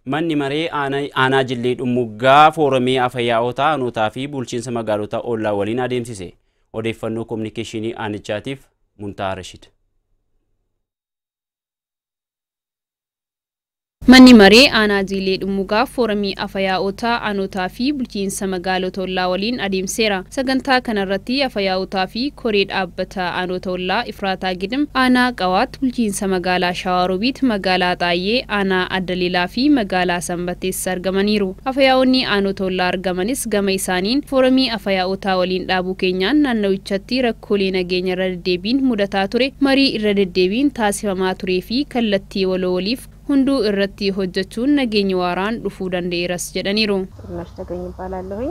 Manni Maree Aanaa Jillee Dhummuggaa Fooramii Afayaa'otaa Aanootaa fi Bulchiinsa Magaalota Ollaa waliin adeemsise. Odeeffannoo Kominikeeshinii Aanichaatiif Muntaa Rashid. Manni Maree Aanaa Jiilee Dhummugaa Fooramii Afayaa'otaa Aanootaa fi Bulchiinsa Magaalota Ollaa waliin adeemseera. Sagantaa kanarratti Afayaa'otaa fi Koree Dhaabbata Aanoota Ollaa Efraataa Gidim, Aanaa Qawaat, Bulchiinsa Magaalaa Shawaa Robiit, Magaalaa Axaayyee, Aanaa Adda Lilaa fi Magaalaa Sanbattees argamaniiru. Afayaa'oonni Aanota ollaa argamanis gama isaaniin, Foramii Afayaa'otaa waliin dhaabuu keenyaan naannawichatti rakkoolee nageenya irra deddeebiin mudataa ture marii irra deddeebiin taasifamaa turee fi kallattii waloo waliif hunduu irratti hojjachuun nageenyi waaraan dhufuu danda'eeras jedhaniiru. Xurunnash Tagany Ibbaalaallohuny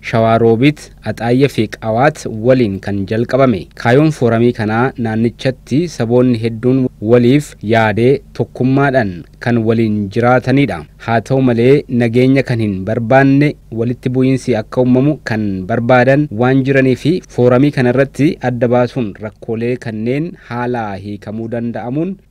Shawaa Roobit, Axaayya fi Qawaat waliin kan jalqabame. Kaayoon fooramii kanaa naannichatti saboonni hedduun waliif yaadee tokkummaadhaan kan waliin jiraataniidha. Haa ta'u malee nageenya kan hin barbaanne, walitti bu'iinsi akka ummamu kan barbaadan waan jiraniifi fooramii kanarratti adda baasuun rakkoolee kanneen haalaa hiikamuu danda'amuun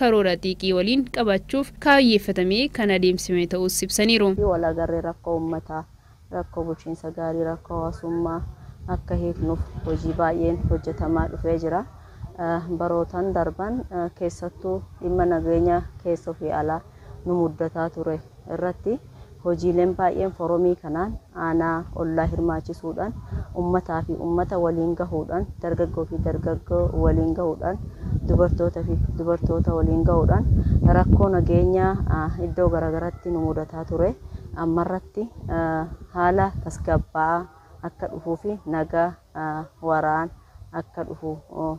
karoora xiiqii waliin qabachuuf kaayyeeffatamee kan adeemsifame ta'uus ibsaniiru. fi wal agarree rakkoo ummataa, rakkoo bulchiinsa gaarii, rakkoo hawaasummaa akka hiiknuuf hojii baay'een hojjetamaa dhufee jira. Barootan darban keessattuu dhimma nageenya keessoo fi alaa nu muddataa ture irratti Hojiileen baay'een foromii kanaan aanaa, ollaa hirmaachisuudhaan ummataa fi ummata waliin gahuudhaan, dargaggoo fi dargaggoo waliin gahuudhaan, dubartoota fi dubartoota waliin gahuudhaan rakkoo nageenyaa iddoo garagaraatti nu mudataa ture ammarratti haala tasgabbaa'aa akka dhufuu fi naga waaraan akka dhufu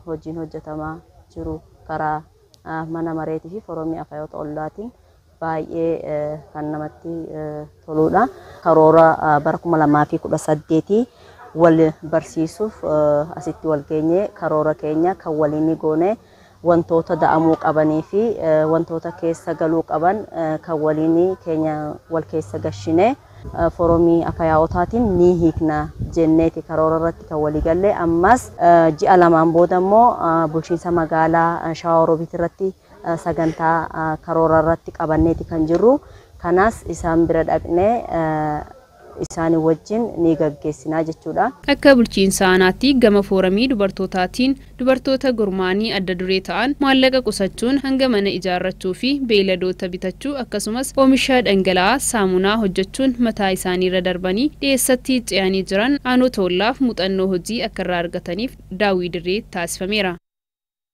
hojiin hojjetamaa jiru karaa mana mareetii fi foromii akayoota ollaatiin baay'ee kan namatti toluudha. Karoora bara 2018 wal barsiisuuf asitti wal geenye karoora keenya kan waliinii goone wantoota da'amuu qabanii fi wantoota keessa galuu qaban kan waliinii keenya wal keessa gashine foromii akayaa'otaatiin ni hiikna jenneeti karoora irratti kan walii galle ammas ji'a lamaan booda immoo bulchiinsa magaalaa Shawaa Roobiit irratti sagantaa karoora irratti qabanneeti kan jirru. Kanaas isaan bira dhaqnee isaanii wajjin ni gaggeessinaa jechuudha. Akka bulchiinsa aanaatti gama fooramii dubartootaatiin dubartoota gurmaa'anii adda duree ta'an maallaqa qusachuun hanga mana ijaarrachuu fi beeyladoota bitachuu akkasumas oomisha dhangala'aa saamunaa hojjechuun mataa isaaniirra darbanii dhiyeessatti ce'anii jiran aanoota ollaaf muuxannoo hojii akka irraa argataniif daawwii dirree taasifameera.